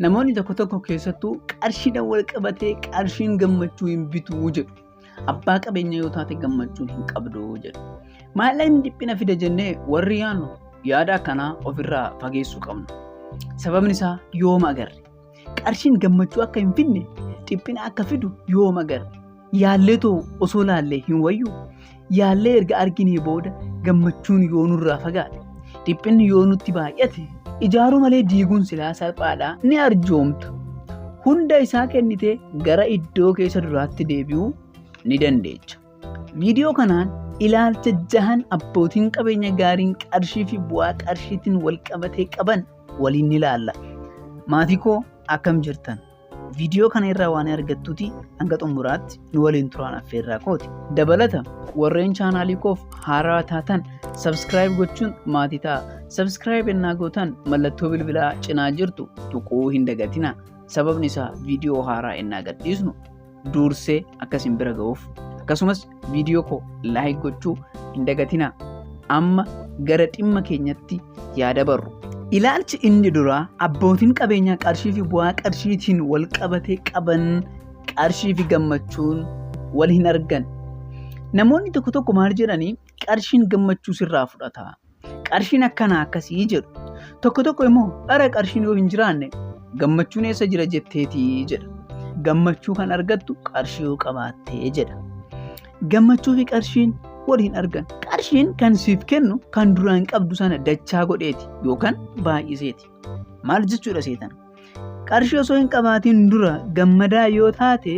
Namoonni tokko tokko keessattuu qarshiidhaan wal qabatee qarshiin gammachuu hin bitu jedhu. Abbaa qabeenya yoo taate gammachuun hin qabdu jedhu. Maallaqni dhiphina fida jennee warri yaannu yaada akkanaa ofirraa fageessuu qabna. Sababni isaa yooma agarre. Qarshiin gammachuu akka hin fidne dhiphina akka fidu yooma agarre. Yaalleetoo osoo laallee hin wayyu yaallee erga arginee booda gammachuun yoo nurraa fagaate dhiphinni yoo nutti baay'ate ijaaruu malee diiguun silaa salphaadha ni arjoomta hunda isaa kennitee gara iddoo keessa duraatti deebi'uu ni dandeecha. Viidiyoo kanaan ilaalcha jahan abbootiin qabeenya gaariin qarshii fi bu'aa qarshiitiin wal qabatee qaban waliin ni ilaalla. Maatii koo akkam jirtan? Viidiyoo kana irraa waan argattuti hanga xumuraatti nu waliin turaan affeerraa kooti. Dabalata warreen chaanaalii koof haaraa taatan sabskiraayib gochuun maatii ta'a. Sabskiraayib ennaa gootan mallattoo bilbilaa cinaa jirtu tuquu hin dagatina. Sababni isaa viidiyoo haaraa ennaa gadhiisnu duursee akka isin bira ga'uuf akkasumas viidiyoo koo laayik gochuu hin dagatinaa amma gara dhimma keenyatti yaa dabarru. Ilaalchi inni duraa abbootiin qabeenyaa qarshii fi bu'aa qarshiitiin wal qabatee qaban qarshii fi gammachuun wal hin argan. Namoonni tokko tokko maal jedhanii qarshiin gammachuu sirraa fudhata. Qarshiin akkanaa akkasii jedhu. Tokko tokko immoo bara qarshiin yoo hin jiraanne gammachuun eessa jira jetteeti jedha. Gammachuu kan argattu qarshii yoo qabaattee jedha. Gammachuu fi qarshiin wal hin argan. Qarshiin kan siif kennu kan duraan qabdu sana dachaa godheeti yookaan baay'iseeti. Maal jechuudha seetan? Qarshii osoo hin qabaatiin dura gammadaa yoo taate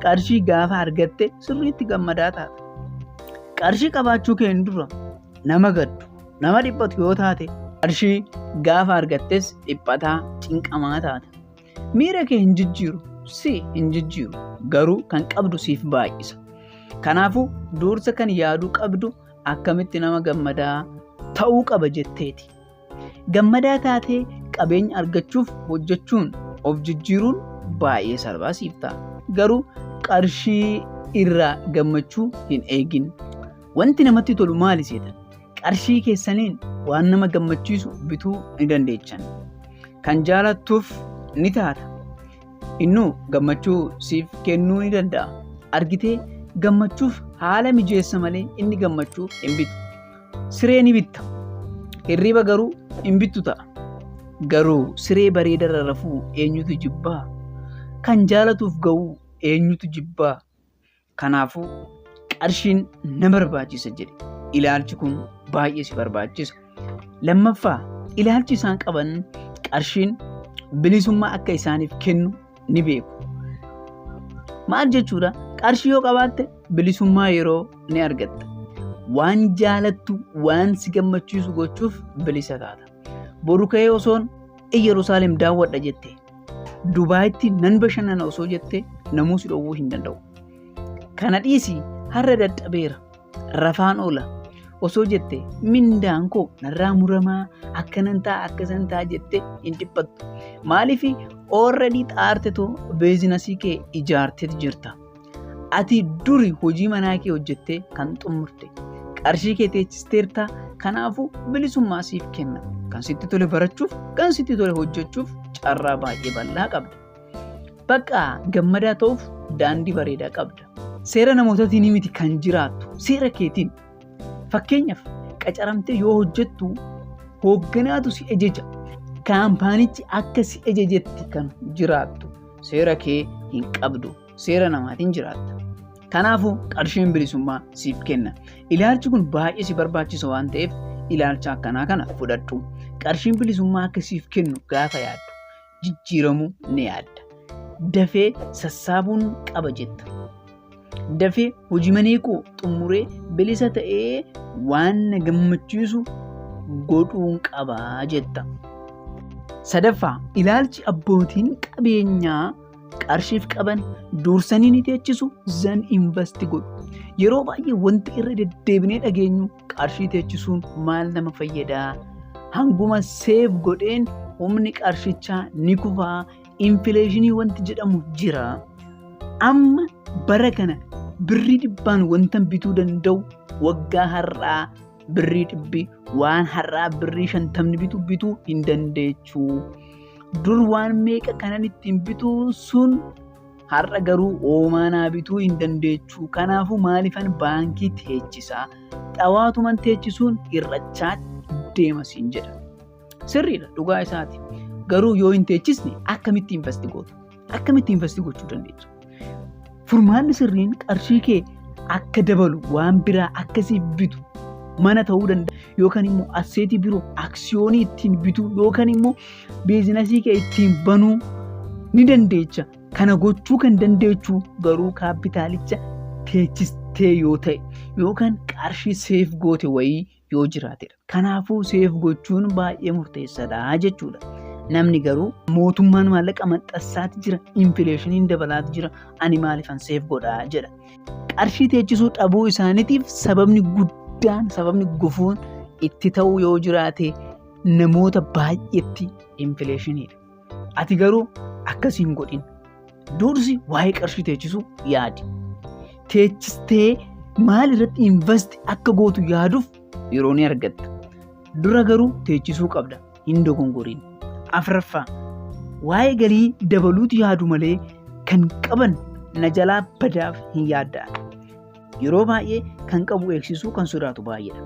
qarshii gaafa argatte sirriitti gammadaa taata. Qarshii qabaachuu keen dura nama gaddu nama dhiphatu yoo taate qarshii gaafa argattes dhiphataa cinqamaa taata. Miira kee hin jijjiiru si hin jijjiiru garuu kan qabdu siif baay'isa. Kanaafuu dursa kan yaaduu qabdu akkamitti nama gammadaa ta'uu qaba jetteeti. Gammadaa taatee qabeenya argachuuf hojjechuun of jijjiiruun baay'ee salphaa siif ta'a. Garuu qarshii irraa gammachuu hin eegin. Wanti namatti tolu maali seetan? Qarshii keessaniin waan nama gammachiisu bituu ni dandeechan. Kan jaalattuuf ni taata. Innuu gammachuu siif kennuu ni danda'a. Argitee gammachuuf haala mijeessa malee inni gammachuu hin bitu. Siree ni bitta. Hirriba garuu hin bittu ta'a. Garuu siree bareedarra rafuu eenyutu jibbaa? Kan jaalatuuf ga'uu eenyutu jibbaa? Kanaafuu qarshiin na barbaachisa jedhe. Ilaalchi kun baay'ee si barbaachisa. Lammaffaa ilaalchi isaan qaban qarshiin bilisummaa akka isaaniif kennu ni beeku. Maal jechuudha? Qarshii yoo qabaatte bilisummaa yeroo ni argatta. Waan jaalattu, waan si gammachiisu gochuuf bilisa taata. Boru ka'ee osoon Iyyerusaalem daawwadha jette. Dubaayitti nan bashannana osoo jette namuu si dhowwuu hin danda'u. Kana dhiisi har'a dadhabeera. rafaan oola osoo jette mindaan koo narraa muramaa akkanan ta'a akkasan ta'a jette hin dhiphattu maaliif oorradii xaartetu beezinasii kee ijaartee jirta ati duri hojii manaa kee hojjettee kan xumurte qarshii kee teechisteerta kanaafuu bilisummaa siif kenna kan sitti tole barachuuf kan sitti tole hojjechuuf carraa baay'ee bal'aa qabda Bakka gammadaa ta'uuf daandii bareedaa qabda. Seera namootatiin miti kan jiraattu seera keetiin. Fakkeenyaaf qacaramtee yoo hojjettu hoogganaatu si ejeja. Kaampaanichi akka si ejejetti kan jiraattu seera kee hin qabdu. Seera namaatiin jiraatta. Kanaafuu qarshiin bilisummaa siif kenna. Ilaalchi kun baay'ee si barbaachisa waan ta'eef ilaalcha akkanaa kana fudhadhu. Qarshiin bilisummaa akka siif kennu gaafa yaaddu jijjiiramu ni yaadda. Dafee sassaabuun qaba jetta. Dafee hojii manee koo xumuree bilisa ta'ee waan na gammachiisu godhuun qaba jetta. Sadaffaa, ilaalchi abbootiin qabeenyaa qarshiif qaban dursanii ni teechisu, zan invasti godhu. Yeroo baay'ee wanti irra deddeebinee dhageenyu qarshii teechisuun maal nama fayyadaa hanguma seef godheen humni qarshichaa ni kufaa infileeshinii wanti jedhamu jira amma bara kana birrii dhibbaan wantan bituu danda'u waggaa har'aa birrii dhibbi waan har'aa birrii shantamni bitu bituu hin dandeechu dur waan meeqa kanan ittiin bituu sun har'a garuu oomaa naa bituu hin dandeechuu kanaafuu maalifan baankii teechisaa xawaatuman teechisuun hir'achaa deema siin jedha sirriidha dhugaa isaati garuu yoo hin teechisne akkamitti investi gootu akkamitti investi gochuu dandeessu furmaanni sirriin qarshii kee akka dabalu waan biraa akkasiif bitu mana ta'uu danda'a yookaan immoo asseetii biroo aksiyoonii ittiin bituu yookaan immoo biizinasii kee ittiin banuu ni dandeecha. Kana gochuu kan dandeechu garuu kaappitaalicha teechistee yoo ta'e yookaan qarshii seef goote wayii yoo jiraatedha. Kanaafuu seef gochuun baay'ee murteessaadha jechuudha. Namni garuu mootummaan maallaqa maxxansaati jira, infileeshiniin dabalaati jira, ani maaliifan seef godha jedha. Qarshii teechisuu dhabuu isaaniitiif sababni guddaan, sababni gufuun itti ta'uu yoo jiraate namoota baay'eetti infileeshiniidha. Ati garuu akkas hin godhin. Dursi waa'ee qarshii teechisuu yaadi. Teechistee maal irratti invest akka gootu yaaduuf yeroo ni argatta. Dura garuu teechisuu qabda. Hin dogongoriin. Afraffaa waa'ee galii dabaluutu yaadu malee kan qaban na jalaa badaaf hin yaadda'an. Yeroo baay'ee kan qabu eegsisuu kan sodaatu baay'eedha.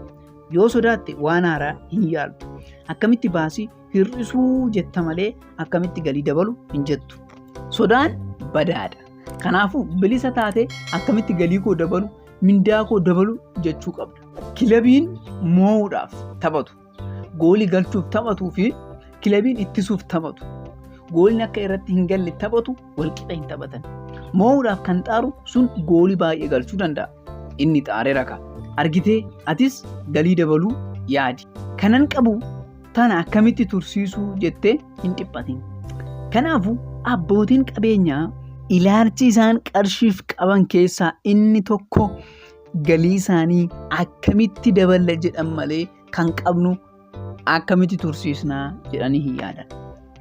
Yoo sodaatte waan haaraa hin yaaltu. Akkamitti baasii hir'isuu jetta malee akkamitti galii dabalu hin jettu. Sodaan badaadha. Kanaafuu bilisa taatee akkamitti galii koo dabalu, mindaa koo dabalu jechuu qabda. Kilabiin moo'uudhaaf taphatu, goolii galchuuf taphatuu fi kilabiin ittisuuf taphatu, gooliin akka irratti hin galle taphatu walqixa hin taphatan. Moo'uudhaaf kan xaaru sun goolii baay'ee galchuu danda'a. Inni xaare raka. Argitee atis galii dabaluu yaadi. Kanan qabu tana akkamitti tursiisuu jettee hin dhiphatin. Kanaafuu abbootiin qabeenyaa ilaalchi isaan qarshiif qaban keessaa inni tokko galii isaanii akkamitti daballa jedhan malee kan qabnu akkamitti tursiisnaa jedhanii hin yaadan.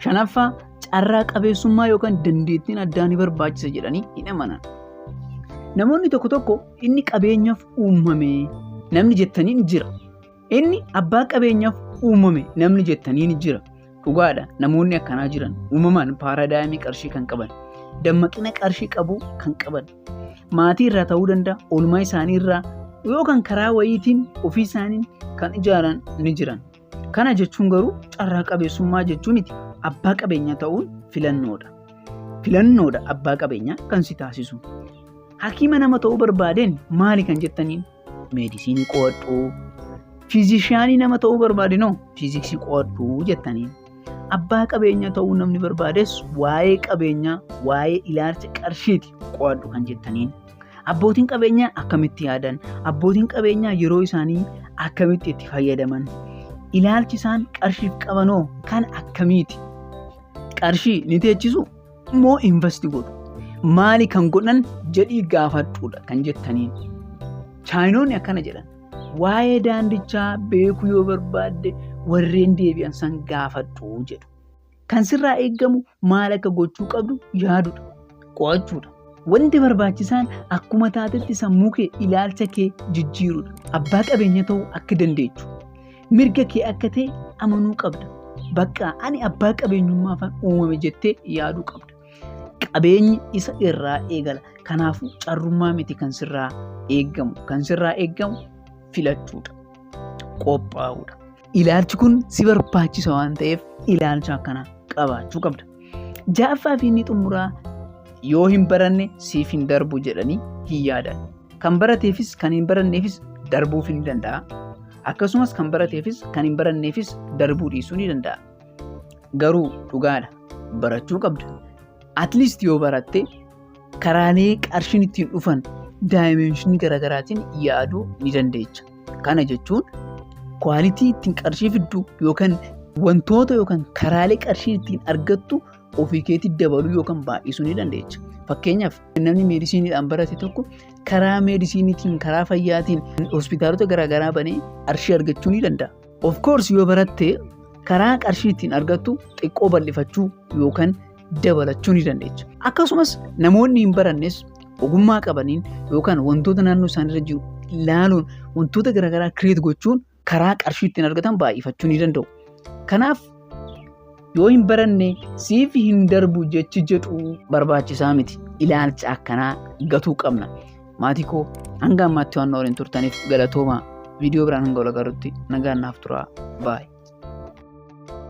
Shanaffaa carraa qabeessummaa yookaan dandeettiin addaa ni barbaachisa jedhanii hin amanan. Namoonni tokko tokko inni qabeenyaaf uumame namni jettanii ni jira. Inni abbaa qabeenyaaf uumame namni jettanii ni jira. Dhugaadha namoonni akkanaa jiran uumamaan paaraadaayimii qarshii kan qaban dammaqina qarshii qabu kan qaban maatii irraa ta'uu danda'a, oolmaa isaanii irraa yookaan karaa wayiitiin ofii isaaniin kan ijaaran ni jiran. Kana jechuun garuu carraa qabeessummaa jechuu miti. Abbaa qabeenyaa ta'uun filannoodha. Filannoodha abbaa qabeenyaa kan si taasisu. Hakiima nama ta'uu barbaadeen maali kan jettaniin? meedisiinii qo'adhu fiizishiyaanii nama ta'uu barbaade noo fiiziksii qo'adhu jettanii abbaa qabeenyaa ta'uu namni barbaades waa'ee qabeenyaa waa'ee ilaalcha qarshiiti qo'adhu kan jettaniin abbootiin qabeenyaa akkamitti yaadan abbootiin qabeenyaa yeroo isaanii akkamitti itti fayyadaman ilaalchi isaan qarshiif qabanoo kan akkamiiti qarshii ni teechisu immoo investi godhu. Maali kan godhan jedhii gaafadhuudha kan jettaniin. Chaayinoonni akkana jedhan. Waa'ee daandichaa beekuu yoo barbaadde warreen deebi'an san gaafadhu jedhu. Kan sirraa eegamu maal akka gochuu qabdu yaadudha. Qo'achuudha. Wanti barbaachisaan akkuma taatetti sammuu kee ilaalcha kee jijjiirudha. Abbaa qabeenya ta'uu akka dandeechu. Mirga kee akka ta'e amanuu qabda. Bakka ani abbaa qabeenyummaafan uumame jettee yaaduu qabda. Qabeenyi isa irraa eegala. Kanaafuu carrummaa miti kan sirraa eegamu. Kan sirraa eegamu filachuudha. Qophaa'uudha. Ilaalchi kun si barbaachisa waan ta'eef ilaalcha akkanaa qabaachuu qabda. Ja'affaa fi inni xumuraa yoo hin baranne siif hin darbu jedhanii hin yaadan. Kan barateefis kan hin baranneefis darbuuf hin danda'a. Akkasumas kan barateefis kan hin baranneefis darbuu dhiisuu ni danda'a. Garuu dhugaadha barachuu qabda. At least yoo baratte karaalee qarshiin ittiin dhufan daayimeenshinii garaagaraatiin yaaduu ni dandeecha. Kana jechuun kwaalitii ittiin qarshii fiddu yookaan wantoota yookaan karaalee qarshiin ittiin argattu ofii keetti dabaluu yookaan baay'isuu ni dandeecha. Fakkeenyaaf namni meedisiiniidhaan barate tokko karaa meedisiiniitiin karaa fayyaatiin hospitaalota garaagaraa banee qarshii argachuu ni danda'a. Of course yoo baratte karaa qarshii ittiin argattu xiqqoo bal'ifachuu yookaan dabalachuu ni dandeecha. Akkasumas namoonni hin barannes ogummaa qabaniin yookaan wantoota naannoo isaaniirra jiru ilaaluun wantoota garaagaraa kireet gochuun karaa qarshii ittiin argatan baay'ifachuu ni danda'u. Kanaaf yoo hin baranne siif hin darbu jechi jedhu barbaachisaa miti. Ilaalcha akkanaa gatuu qabna. Maatii koo hanga ammaatti waan waliin turtaniif galatooma. Viidiyoo biraan hanga wal agarrutti nagaan naaf turaa. Baay'ee.